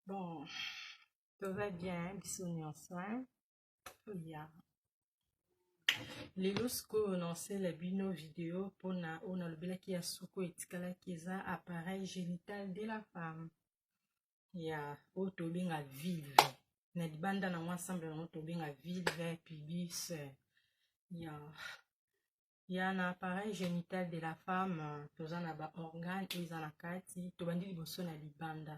bon tova bien biso nyonso ya lelo sikoyo naosela bino video mpona oyo nalobelaki ya suku etikalaki eza appareil génital de la femme ya oyo tobenga vilve na libanda nango ensemble yango tobenga vilve pubis ya ya na appareil genital de la femme toza na ba organe oyo eza na kati tobandi liboso na libanda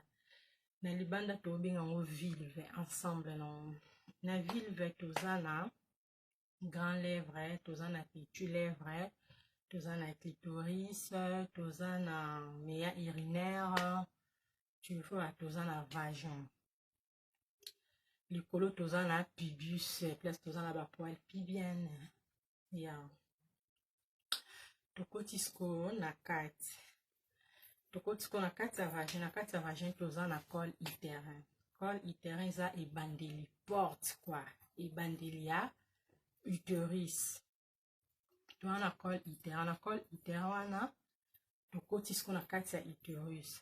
na libanda tobenga yango vilve ensemble na na vilve toza na grand lèvre toza na petit lèvre toza na clitoris toza na meya urinaire tu vois toza na vagin likolo toza na pubis place toza na bapoile pibienne ya tokoti sikoyo na kati tokoti sikoyo na kati ya vagin na kati ya vagin toza na col uterin col uterin eza ebandeli porte kwa ebandeli ya uteris toza na col uterin na col uterin wana tokoti sikoyo na kati ya uterus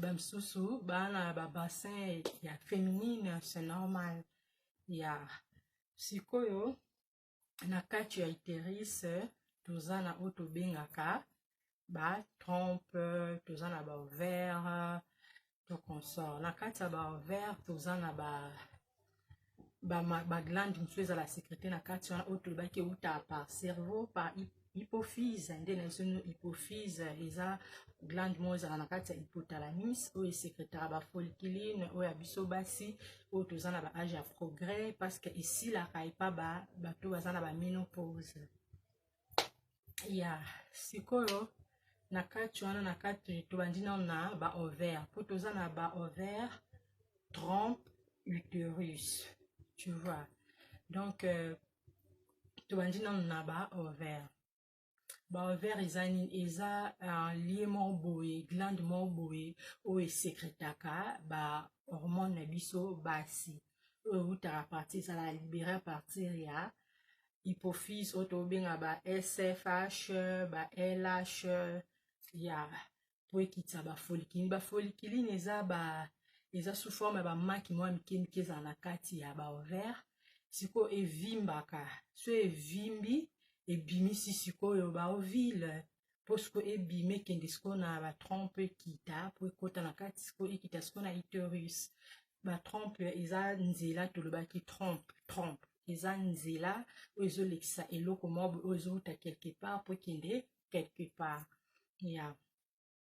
bamisusu baa na babassin ya féminine c'est normal ya sikoyo na kati ya iterise toza na oyo tobengaka ba trompe toza na baovere to consort na kati ya baovere toza na ba baglande ba mosusu ezala secrete na kati wana oyo tolobaki euta par cerveau par hypophyse nde na biso nio hypophyse eza glande moko ezala na kati ya hypotalamus oyo esekretaka bafolkiline oyo ya biso basi oyo toza na baage ya progrès parce que esilaka epa bato baza na baminopause ya sikoyo na kati wana na kati tobandi nano na ba ovaire mpo toza na ba ovaire trompe uterus tu vois donc euh, tobandi nano na ba ovaire ba ovaire eza nini eza uh, lie moko boye glande moko boye oyo esekretaka ba hormone na biso basi oyo ewutaka euh, parti ezalaka libere a partir ya hypophyse oyo tobenga ba sfh ba lh ya mpo ekitisa bafolikilini bafolikilini eza ba eza sous forme ya bamaki mwa mike mike ezala na kati ya baovaire sikoyo evimbaka so evimbi ebimisi sikoyo baovile mpo sikoyo ebima ekende sikoyo na batron mpo ekita mpo ekota na kati sikoyo ekita sikoyo na iterus batrompe eza nzela tolobaki trompe trompe eza nzela oyo ezolekisa eloko moko oyo ezowuta quelque part mpo ekende quelque part ya yeah.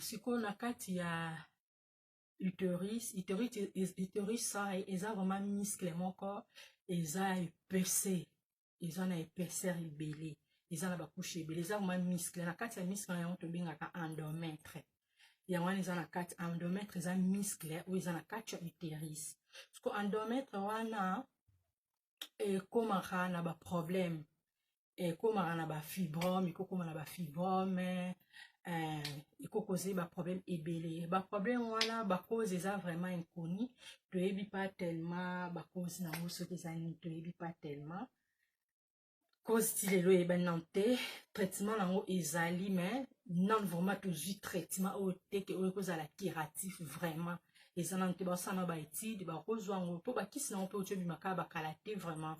sikoyo na kati ya uterus uterus uterus sai eza vraiment muscle moko eza epese eza na épaisseur ebele eza na bakushe ebele eza vraiment muscle na kati ya muscle na yango tobengaka endometre yango wana eza na kati endometre eza muscle oyo eza na kati ya uterus siko endometre wana ekomaka na baproblème ekomaka na bafibrome ekokoma na bafibrome eh, ekoki kozali baproblème ebele baproblème wana bacause eza vraiment inconi toyebi pa tellement bacause na yango soki eza nini toyebi pa tellement cause ti lelo eyebani nano te traitement na yango ezali mais nano vraiment tozwi traitement oyo teke oyo ekozala curatif vraiment eza nano te basala na baétude bakozwa yango mpo bakisi na yango mpe otyobimaka bakala te vraiment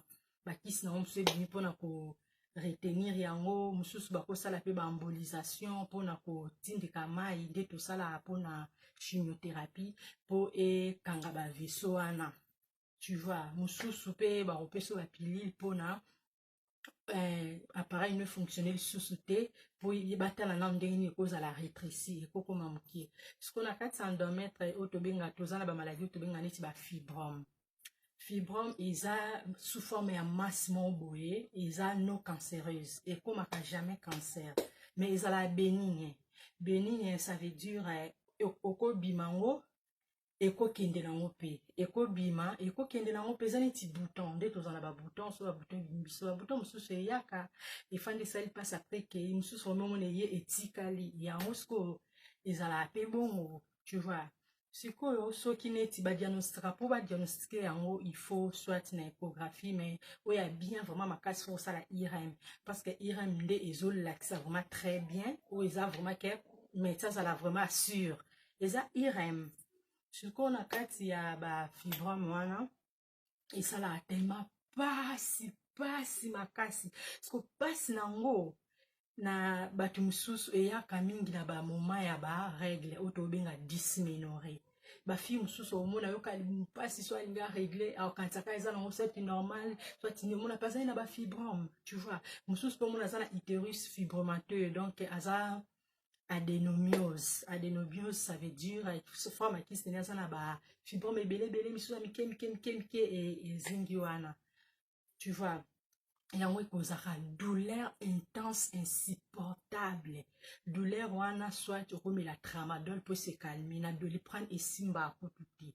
bakisi na yango mosusu ebimi mpona ko retenir yango mosusu bakosala mpe baembolisation mpona kotindika mai nde tosalaka mpona chimiothérapie mpo ekanga baveso wana tu vois mosusu mpe bakopesa bapilile mpona euh, appareil ne fonctionne lisusu te mpo batala nano ndenge nini ekozala rétréci ekokoma moke sikoyo na kati ya endometre oyo tobenga toza na bamaladi oyo tobenga neti bafibrome fibrome eza sous forme ya masse moko boye eza non cancéreuse ekomaka jamais cancer mais ezalaka benigne benigne ça veut dire eh, okobima yango ekokende nango mpe ekobima ekokende nango mpe eza neti bouton nde tozala na babouton so babouton ebimi biso babouton mosusu eyaka efandi esali mpasi apres kei mosusu omemona eye etikali yango sikoyo ezalaka mpe bongo tu vois sikoyo soki neti badiagnostika mpo badiagnostike yango il faut soit na échographie mais oyo ya bien vraiment makasi fo kosala irm parce que irm nde ezolakisa vraiment très bien oyo eza vraiment ke médecin azala vraiment assure eza irm sikoyo na kati ya bafibrome wana esalaka telema pasi pasi makasi siko pasi na yango na bato mosusu eyaka mingi na bamoma ya baregle oyo tobenga disminore bafille mosusu omona yoka mpasi so alingi aregle akanisaka eza nango sati normal soatini omona mpe azali na bafibrome tu vois mosusu mpe omona aza na uterus fibromateux donc aza adenomiose adenomiose ça veut dire sofa makisi nini aza na bafibrome ebele ebele misusu ya mike mike mike mike ezingi wana tu vois yango ekozaka douleur intense insupportable douleur wana soit okomela tramadol mpo esekalmi na doliprane esimbaka kutu te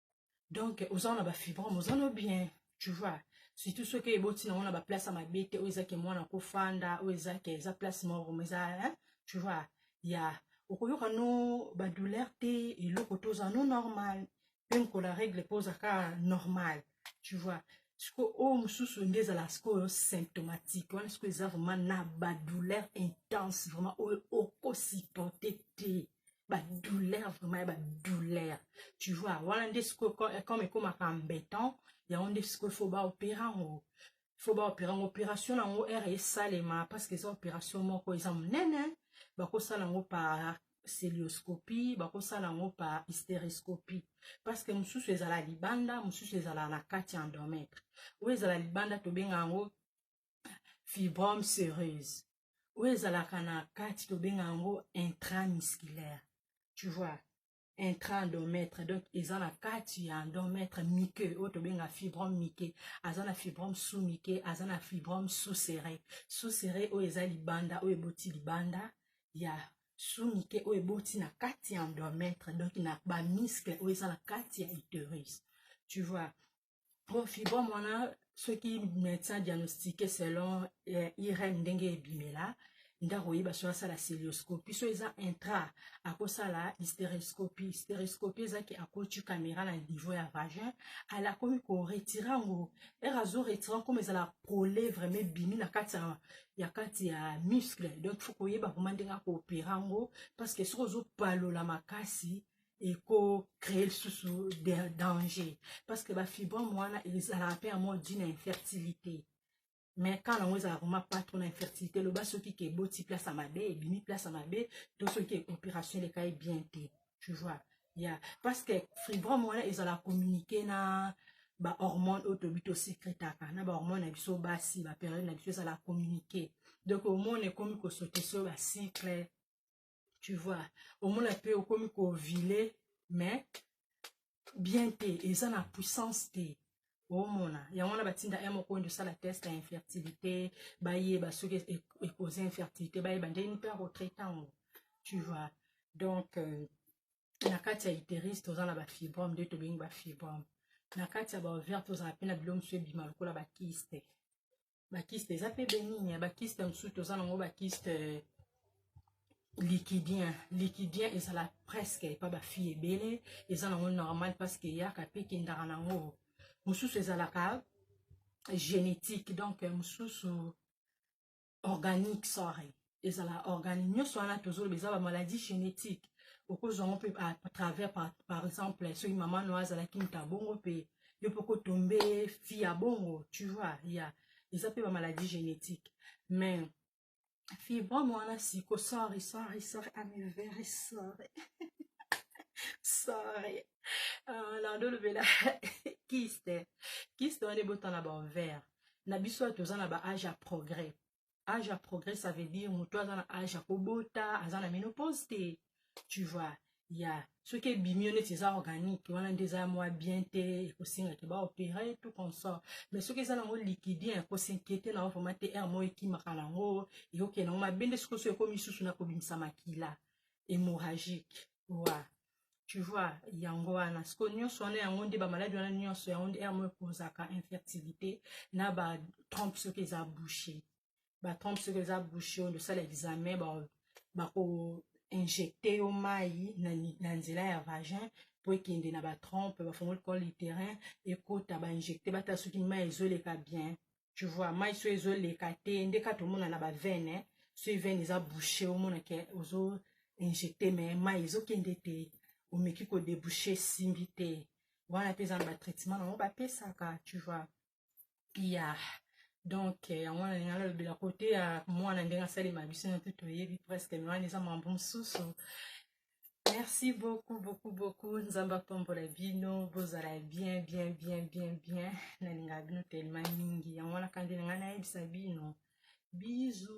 donc oza na ba fibrome oza no bien tu vois surtout soki eboti nango na baplace ya mabe te oyo eza ke mwana kofanda oyo eza ke eza place moko ma eza hein? tu vois ya okoyoka no badouleur te eloko te oza no normal mpe mokolo ya règle mpe oza kaka normal tu vois siko oyo mosusu nde ezala sikoyo symptomatique wana sikoyo eza vraiment na badouleur intense vraiment oyo okosupporte te badouleur vraiment ya badouleur tu vois wana nde sikoyo comme ekomaka embêtant yango nde sikoyo fo baopere yango fo baopere yango opération na yango ere esalema parce que eza opération moko eza monene bakosala yango par celioscopie bakosala yango par hystériscopie parce que mosusu ezala libanda mosusu ezala na kati ya endometre oyo ezala libanda tobenga yango fibrome sereuse oyo ezalaka na kati tobenga yango intramusculaire tu vois intraendomètre donc eza na kati ya endomètre mike oyo tobenga fibrome mike aza na fibrome sous mike aza na fibrome sous serré sous serré oyo eza libanda oyo eboti libanda ya sous mike oyo eboti na kati ya endomètre donc na bamiskle oyo eza na kati ya uterus tu vois bon fibrome wana soki médecin diagnostique selon eh, irm ndenge ebimela nde akoyeba soki asala celioscopie so eza intra akosala hysteroscopie hysteroscopie eza ke akoti caméra na niveau ya vagin ala akomi koretire yango ere azo retire yango koma ezala prole vraiment ebimi na kati ya ya kati ya muscle donc fo koyeba vraimen ndenge akoopere yango parce que soki ozopalola makasi ekocree lisusu de danger parce que bafibrome wana ezalaka mpe yango dina infertilité mais ka nango ezalaka vraimen pas trop na infertilité loba soki ke eboti place ya mabe ebimi place ya mabe to soki opération elekai bien te tu vois ya yeah. parce que fibrome wana ezalaka communiqué na bahormone oyo toyebi tosekretaka na bahormone na biso basi baperiode na biso ezala communiqué donc omona ekomi kosote so bacycle tu vois omona mpe okomi kovile mais bien te eza na puissance te omona yango wana batinda ya moko oyo osala test ya infertilité bayeba soki ekoze infertilité bayeba ndenge mpe akotraite yango tu vois donc euh, na kati ya uteris toza na bafibrome nde tobengi bafibrome na kati ya baovere tozala mpe na bilo mosusu ebima lokola bakiste bakiste eza mpe benini ya bakiste mosusu toza nango bakiste euh, liquidien liquidien ezala presque epa bafille ebele eza nango normal parce que eyaka mpe ekendaka nango mosusu ezalaka génétique donc euh, mosusu organique sorry ezala organe nyonso wana tozoloba eza bamaladi génétique okozwa yango mpe à travers par, par exemple soki mama no azalaki moto ya bongo mpe yo mpe okotombe fi ya bongo tu vois ya eza mpe bamaladi génétique mais fibrome wana siko sorry sorry sorry I'm very sorry sorry uh, na ndolobela kiste kiste wana ebotana baovere na biso toza na baage ya progrès age ya progrès ça veut dire moto aza na age ya kobota aza na menopause te tu vois ya soki ebimi yo neti eza organique wana nde eza mwa bien te ekosenga ke baopere tout consort mais soki eza nango liquidien ekosinkiete nango vraimen te aire moko ekimaka nango ekokende nango mabe nde soki oso ekomi lisusu na kobimisa makila hémorragique wa tu vois yango wana siko nyonso wana yango nde bamaladi wana nyonso yango nde yango ekozaka infertilité na batrompe soki eza bouche batrompe soki eza bouche oyo ndosala examen bako injecte yo mai na, na nzela ya vagin mpo ekende na batrompe bafongoli col literin ekota bainjecte batala soki mai ezoleka bien tu vois mai so ezoleka te nde kaka tomona na bavene soki vene eza bouche omona ke ozo injecte mai mai ezokende te omeki kodebouche esimbi te wana mpe eza na batraitement nango bapesaka tu vois ya donc eh, yango wana ndenge alobela kote ya mwana ndenge asalema biso na mpe toyebi presque me wana eza mambo mosusu merci beaucoup beaucoup beaucoup nzambe apambola bino bozala bien bien bien bien bien nalingaka bino telema mingi yango wana kandi na ngai nayebisa bino bizu